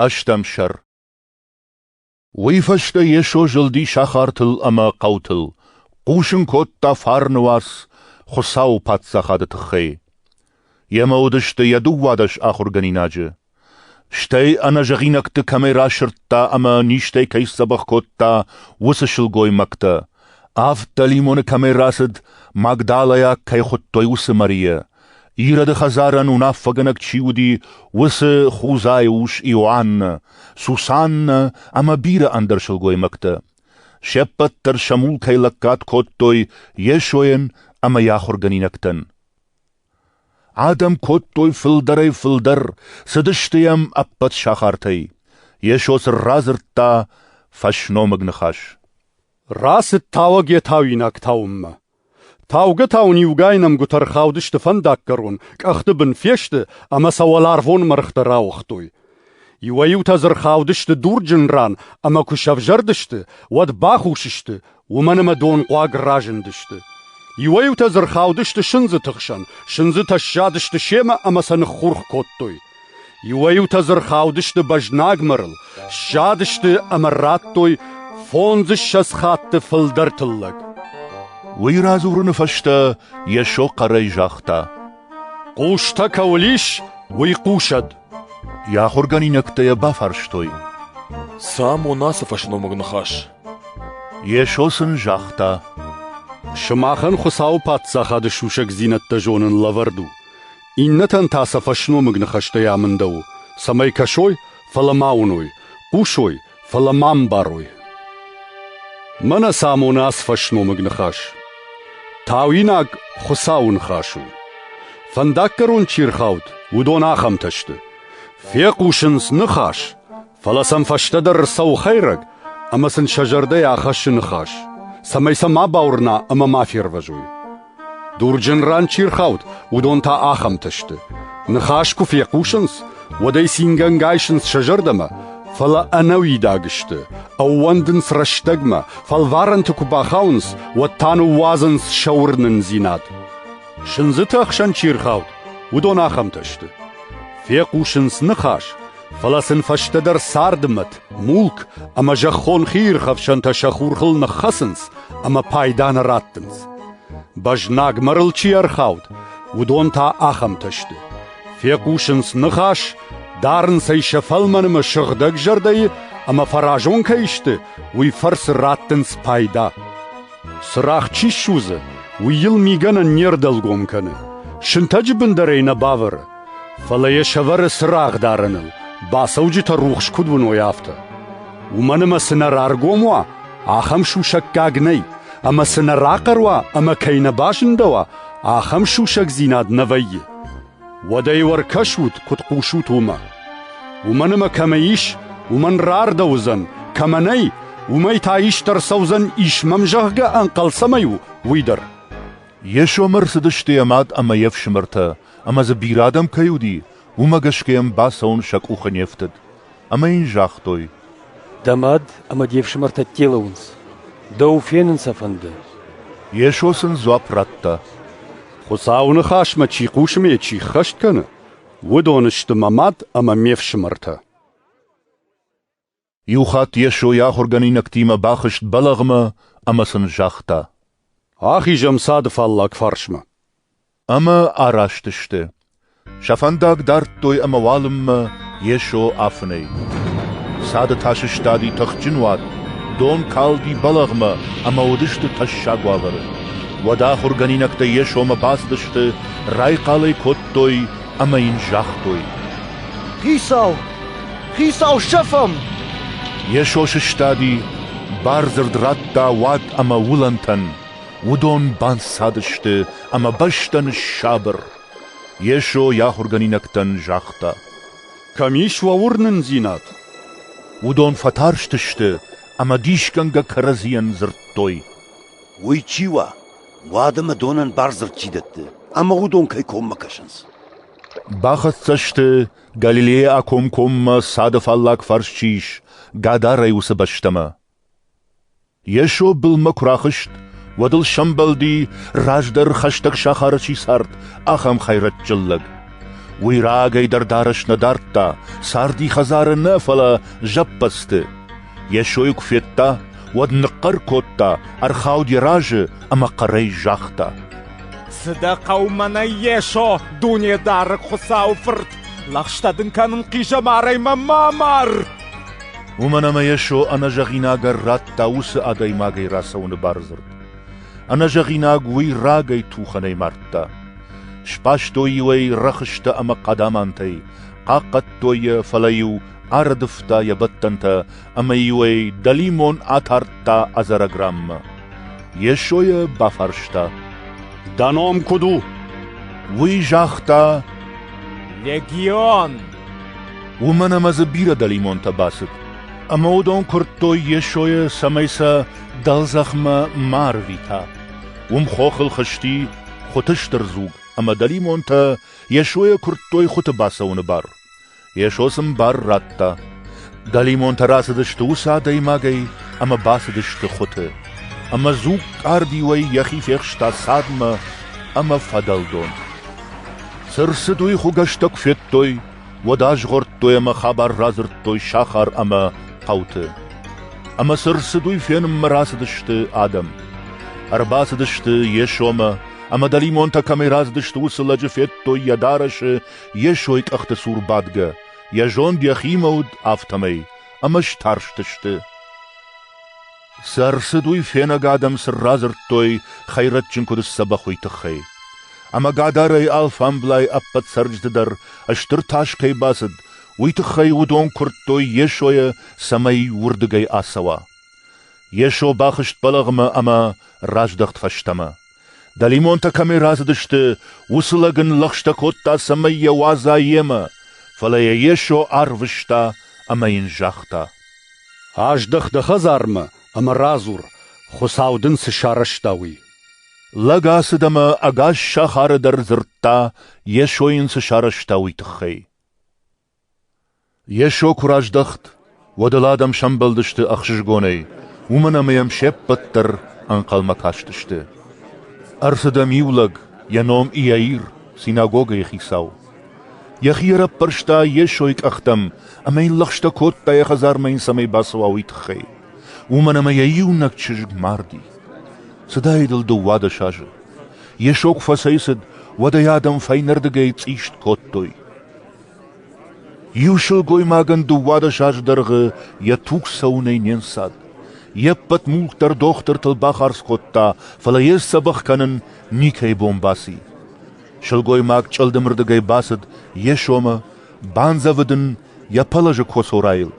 Ӕстӕм сӕр Уый фӕстӕ Йесо зылди сахартыл ӕмӕ хъӕутыл, хъусын кодта фарны уац Хуыцауы Паддзахады тыххӕй. Йемӕ уыдысты йӕ дыууадӕс ахуыргӕнинаджы. Стӕй ӕнӕзӕгъинӕгты кӕмӕй расырдта ӕмӕ низтӕй кӕй сдзӕбӕх кодта, уыцы сылгоймӕгтӕ, Авд дӕлимоны кӕмӕй рацыд, магдалӕйаг кӕй хуыдтой, уыцы Марийӕ. Ироды хӕдзарӕн уынаффӕгӕнӕг чи уыди, уыцы Хузайы ус Иоаннӕ, Сусаннӕ ӕмӕ бирӕ ӕндӕр сылгоймӕгтӕ. Се ппӕт дӕр сӕ мулкӕй лӕггад кодтой Йесойӕн ӕмӕ йӕ ахуыргӕнинӕгтӕн. Адӕм кодтой фылдӕрӕй-фылдӕр, цыдысты йӕм ӕппӕт сахартӕй. Йесо сын радзырдта фӕсномыг ныхас. Рацыд тауӕг йӕ тауинаг тауынмӕ. Таугӕ-тау ын иугай нӕмгуытӕ ӕрхаудысты фӕндаггӕрон, къӕхты бын фесты ӕмӕ сӕ уӕларвон мӕргътӕ рауыгътой. Иуӕй-иутӕ дзы рхаудысты дурджын ран ӕмӕ куы сӕвзӕрдысты, уӕд бахус сты, уымӕн ӕмӕ донхъуаг разындысты. Иуӕй-иутӕ дзы рхаудысты сындзы тыхсӕн, сындзытӕ ссадысты семӕ ӕмӕ сӕ ныххурх кодтой. Иуӕй-иутӕ дзы рхаудысты бӕзнагмырыл, ссадысты ӕмӕ радтой фондзыссӕдз хатты фылдӕр тыллӕг. Уый радзурыны фӕстӕ Йесо хъӕрӕй загъта: «Хъустӕ кӕуыл ис, уый хъусӕд!» Йӕ ахуыргӕнинӕгтӕ йӕ бафарстой: «Цы амон ацы фӕсномыг ныхас?» Йесо сын загъта: «Сымахӕн Хуыцауы Паддзахады сусӕгдзинӕдтӕ зонын лӕвӕрд у. Иннӕтӕн та сӕ фӕсномыг ныхӕстӕй амындӕуы, цӕмӕй кӕсой, фӕлӕ ма уыной, хъусой, фӕлӕ ма ӕмбарой. Мӕнӕ цы амоны ацы фӕсномыг ныхас. Тауинаг Хуыцауы ныхас у. Фӕндаггӕрон чи рхауд, уыдон ахӕмтӕ сты. Фехъусынц ныхас, Фӕлӕ сӕм фӕстӕдӕр ӕрцӕуы хӕйрӕг ӕмӕ сын сӕ зӕрдӕйы ахӕссы ныхас, цӕмӕй сӕ ма бауырна ӕмӕ ма фервӕзой. Дурджын ран чи рхауд, уыдон та ахӕмтӕ сты. Ныхас куы фехъусынц, уӕд ӕй цингӕнгӕ айсынц сӕ зӕрдӕмӕ, фӕлӕ ӕнӕуидаг сты, ӕууӕндынц рӕстӕгмӕ, фӕлварӕнты куы бахауынц, уӕд та ныууадзынц сӕ уырнындзинад. Сындзыты ӕхсӕн чи рхауд, уыдон ахӕмтӕ сты. Фехъусынц ныхас, Фӕлӕ сын фӕстӕдӕр царды мӕт, мулк ӕмӕ зӕххон хиирхӕфсӕнтӕ сӕ хурхыл ныххӕцынц ӕмӕ пайда нӕ раттынц. Бӕзнагмӕ рыл чи ӕрхауд, уыдон та ахӕмтӕ сты. Фехъусынц ныхас, дарынц ӕй сӕ фӕлмӕнмӕ сыгъдӕг зӕрдӕйы ӕмӕ фӕразон кӕй сты, уый фӕрцы раттынц пайда. Цырагъ чи ссудзы, уый йыл мигӕнӕн не рдӕлгом кӕны, сынтӕджы бын дӕр ӕй нӕ бавӕры, Фӕлӕ йӕ сӕвӕры цырагъ дарыныл, бацӕуджытӕ рухс куыд уыной, афтӕ. Уымӕн ӕмӕ цы нӕ раргом уа, ахӕм сусӕггаг нӕй, ӕмӕ цы нӕ рахъӕр уа ӕмӕ кӕй нӕ базындӕуа, ахӕм сусӕгдзинад нӕ вӕййы. Уӕдӕ иу ӕркӕсут, куыд хъусут уымӕ. Уымӕн ӕмӕ кӕмӕ ис, уымӕн рардӕуыдзӕн, кӕмӕ нӕй, уымӕй та ист ӕрцӕудзӕн, ис мӕм, зӕгъгӕ, ӕнхъӕл цӕмӕй у, уый дӕр. Йесомӕ рцыдысты йӕ мад ӕмӕ йе фсымӕртӕ, ӕмӕ дзы бирӕ адӕм кӕй уыди, уымӕ гӕсгӕ йӕм бацӕуын сӕ къухы не фтыд. Ӕмӕ йын загътой: «Дӕ мад ӕмӕ де фсымӕртӕ телыуынц. дӕу фенын сӕ фӕнды?» Йесо сын дзуапп радта: «Хуыцауы Ныхасмӕ чи хъусы ӕмӕ чи ххӕст кӕны, уыдон сты мӕ мад ӕмӕ ме фсымӕртӕ». Иу хатт Йесо йӕ ахуыргӕнинӕгтимӕ бахызт бӕлӕгъмӕ ӕмӕ сын загъта: «Ахизӕм цады фаллаг фарсмӕ». Ӕмӕ араст сты. Сӕ фӕндаг дардтой ӕмӕ уалынмӕ Йесо афынӕй. Цады та сыстади тыхджын уат, дон калди бӕлӕгъмӕ ӕмӕ уыдысты тӕссаг уавӕры. Уӕд ахуыргӕнинӕгтӕ Йесомӕ бацыдысты, райхъал ӕй кодтой ӕмӕ йын загътой: «Хицау!» Хицау сӕфӕм! Йесо сыстади, бардзырд радта уад ӕмӕ уылӕнтӕн. Уыдон банцадысты ӕмӕ бӕстӕ ныссабыр. Йесо йӕ ахуыргӕнинӕгтӕн загъта: Кӕм ис уӕ уырнындзинад? Уыдон фӕтарстысты ӕмӕ дисгӕнгӕ кӕрӕдзийӕн дзырдтой. Уый чи уа, уӕд ӕмӕ донӕн бардзырд чи дӕтты, ӕмӕ уыдон кӕй коммӕ кӕсынц? Бахӕццӕ сты Галилейӕ акомкоммӕ цады фаллаг фарс чи ис, Гадарӕй уыцы бӕстӕмӕ. Йесо былмӕ куы рахызт, уӕд ыл сӕмбӕлди, раздӕр хӕстӕг сахары чи цард, ахӕм хӕйрӕджджын лӕг. Уый рагӕй дӕр дарӕс нӕ дардта, царди хӕдзары нӕ, фӕлӕ зӕппӕдзты. Йесойы куы федта, уӕд ныхъхъӕр кодта, ӕрхауд йӕ разы ӕмӕ хъӕрӕй загъта. Цы дӕ хъӕумӕ нӕ есо, Дунедарӕг Хуыцауы Фырт! Лӕгъстӕ дын кӕнын хъизӕмарӕй мӕ ма мар! Уымӕн ӕмӕ Йесо ӕнӕзӕгъинаг ӕррадта уыцы адӕймагӕй рацӕуыны бардзырд. Ӕнӕзӕгъинаг уый рагӕй тухӕнӕй мардта. Сбастой-иу ӕй рӕхыстӕ ӕмӕ хъадамантӕй, хъахъхъӕдтой йӕ, фӕлӕ-иу ӕрыдывта йӕ бӕттӕнтӕ ӕмӕ-иу ӕй дӕлимон атардта ӕдзӕрӕгранмӕ. Йесо йӕ бафарста, «Дӕ ном куыд у?» Уый загъта, «Легион». Уымӕн ӕмӕ дзы бирӕ дӕлимонтӕ бацыд, ӕмӕ уыдон куырдтой Йесойы, цӕмӕй сӕ дӕлдзӕхмӕ ма ӕрвита. Уым хохыл хызти хуыты стыр дзуг, ӕмӕ дӕлимонтӕ Йесойӕ куырдтой хуыты бацӕуыны бар. Йесо сын бар радта. Дӕлимонтӕ рацыдысты уыцы адӕймагӕй ӕмӕ бацыдысты хуыты. Ӕмӕ дзуг къардиуӕй йӕхи фехста цадмӕ ӕмӕ фӕдӕлдон. Цы рцыд, уый хуыгӕстӕ куы федтой, уӕд азгъордтой ӕмӕ хабар радзырдтой сахар ӕмӕ хъӕуты. Ӕмӕ цы рцыд, уый фенынмӕ рацыдысты адӕм. Ӕрбацыдысты Йесомӕ, ӕмӕ дӕлимонтӕ кӕмӕй рацыдысты, уыцы лӕджы федтой йӕ дарӕсы йе сой къӕхты цур бадгӕ, йӕ зонд йӕхимӕ уыд, афтӕмӕй, ӕмӕ старстысты. Сӕ рцыд уый фенӕг адӕм сын радзырдтой хӕйрӕджджын куыд сдзӕбӕх уый тыххӕй. Ӕмӕ гадарӕй алфамблай ӕппӕт цӕрджыты дӕр стыр тас кӕй бацыд, уый тыххӕй уыдон куырдтой Йесойӕ, цӕмӕй уырдыгӕй ацӕуа. Йесо бахызт бӕлӕгъмӕ ӕмӕ раздӕхт фӕстӕмӕ. Дӕлимонтӕ кӕмӕй рацыдысты, уыцы лӕг ын лӕгъстӕ кодта, цӕмӕй йӕ уадза йемӕ, фӕлӕ йӕ Йесо арвыста ӕмӕ йын загъта. «Аздӕх дӕ хӕдзармӕ ӕмӕ радзур, Хуыцау дын цы сарӕзта, уый». Лӕг ацыд ӕмӕ ӕгас сахары дӕр дзырдта, Йесо йын цы сарӕзта, уый тыххӕй. Йесо куы раздӕхт, уӕд ыл адӕм сӕмбӕлдысты ӕхсызгонӕй, уымӕн ӕмӕ йӕм се ппӕт дӕр ӕнхъӕлмӕ кастысты. Ӕрцыдӕм иу лӕг, йӕ ном Иаир, синагогӕйы хицау. Йӕхи ӕрӕппӕрста Йесойы къӕхтӕм ӕмӕ йын лӕгъстӕ кодта, йӕ хӕдзармӕ йын цӕмӕй бацӕуа, уый тыххӕй, уымӕн ӕмӕ йӕ иунӕг чызг марди. Цыдаид ыл дыууадӕс азы. Йесо куы фӕцӕйцыд, уӕд ӕй адӕм фӕйнӕрдыгӕй цъист кодтой. Иу сылгоймагӕн дыууадӕс азы дӕргъы йӕ туг цӕуынӕй не нцад. Йе ппӕт мулк дӕр дохтыртыл бахардз кодта, фӕлӕ йе сдзӕбӕх кӕнын никӕй бон баци. Сылгоймаг чъылдымырдыгӕй бацыд йе сомы, бандзӕвыд ын йӕ пӕлӕзы коцорайыл,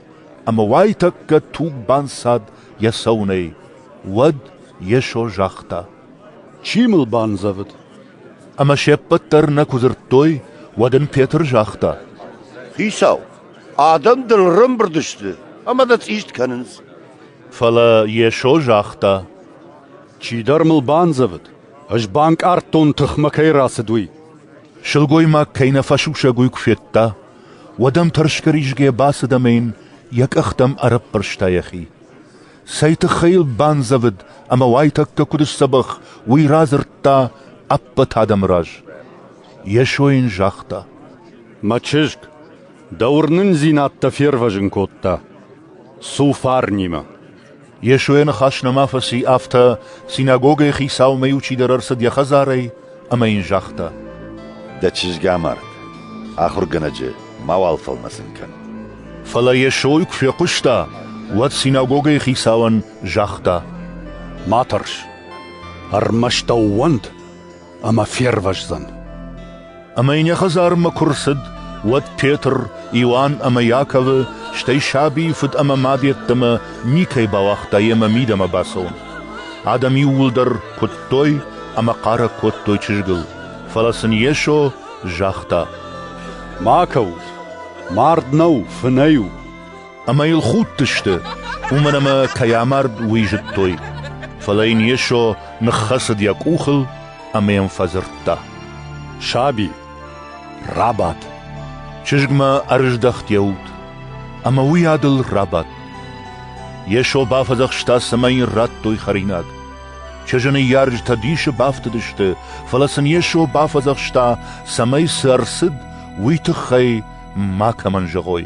ӕмӕ уайтӕккӕ туг банцад йӕ цӕуынӕй. Уӕд Йесо загъта: Чи мыл бандзӕвыд? Ӕмӕ се ппӕт дӕр нӕ куы дзырдтой, уӕд ын Петр загъта: Хицау, адӕм дын ӕрӕмбырд сты ӕмӕ дӕ цъист кӕнынц. Фӕлӕ Йесо загъта: Чидӕр мыл бандзӕвыд, ӕз банкъардтон, тыхмӕ кӕй рацыд, уый. Сылгоймаг кӕй нӕ фӕсусӕг уый куы федта, уӕд ӕм тӕрсгӕ-ризгӕ бацыд ӕмӕ йын йӕ къӕхтӕм ӕрӕппӕрста йӕхи. Цӕй тыххӕй йыл бандзӕвыд ӕмӕ уайтӕккӕ куыд сдзӕбӕх, уый радзырдта ӕппӕт адӕмы раз. Йесо йын загъта: «Мӕ чызг, дӕ уырнындзинӕдтӕ фервӕзын кодта. цу фарнимӕ». Йесо йӕ ныхас нӕма фӕци, афтӕ синагогӕйы хицаумӕ иу чидӕр ӕрцыд йӕ хӕдзарӕй ӕмӕ йын загъта: Дӕ чызг амард, ахуыргӕнӕджы мауал фӕлмӕцын кӕн. Фӕлӕ Йесойы куы фехъуыста, уӕд синагогӕйы хицауӕн загъта: Ма тӕрс, ӕрмӕст ӕууӕнд, ӕмӕ фервӕздзӕн. Ӕмӕ йын йӕ хӕдзармӕ куы рцыд, уӕд Петр, Иоанн ӕмӕ Иаковы, стӕй сабийы фыд ӕмӕ мад йеддӕмӕ никӕй бауагъта йемӕ мидӕмӕ бацӕуын. Адӕм иууылдӕр куыдтой ӕмӕ хъарӕг кодтой чызгыл, фӕлӕ сын Йесо загъта: «Ма кӕут! Мард нӕу, фынӕй у!» Ӕмӕ йыл худтысты, уымӕн ӕмӕ кӕй амард, уый зыдтой. Фӕлӕ йын Йесо ныххӕцыд йӕ къухыл ӕмӕ йӕм фӕдзырдта: «Саби!» Рабат. Чызгмӕ ӕрыздӕхт йӕ уд, ӕмӕ уый адыл рабадт. Йесо бафӕдзӕхста, цӕмӕй йын радтой хӕринаг. Чызджы ныййарджытӕ дисы бафтыдысты, фӕлӕ сын Йесо бафӕдзӕхста, цӕмӕй цы ӕрцыд, уый тыххӕй макӕмӕн зӕгъой.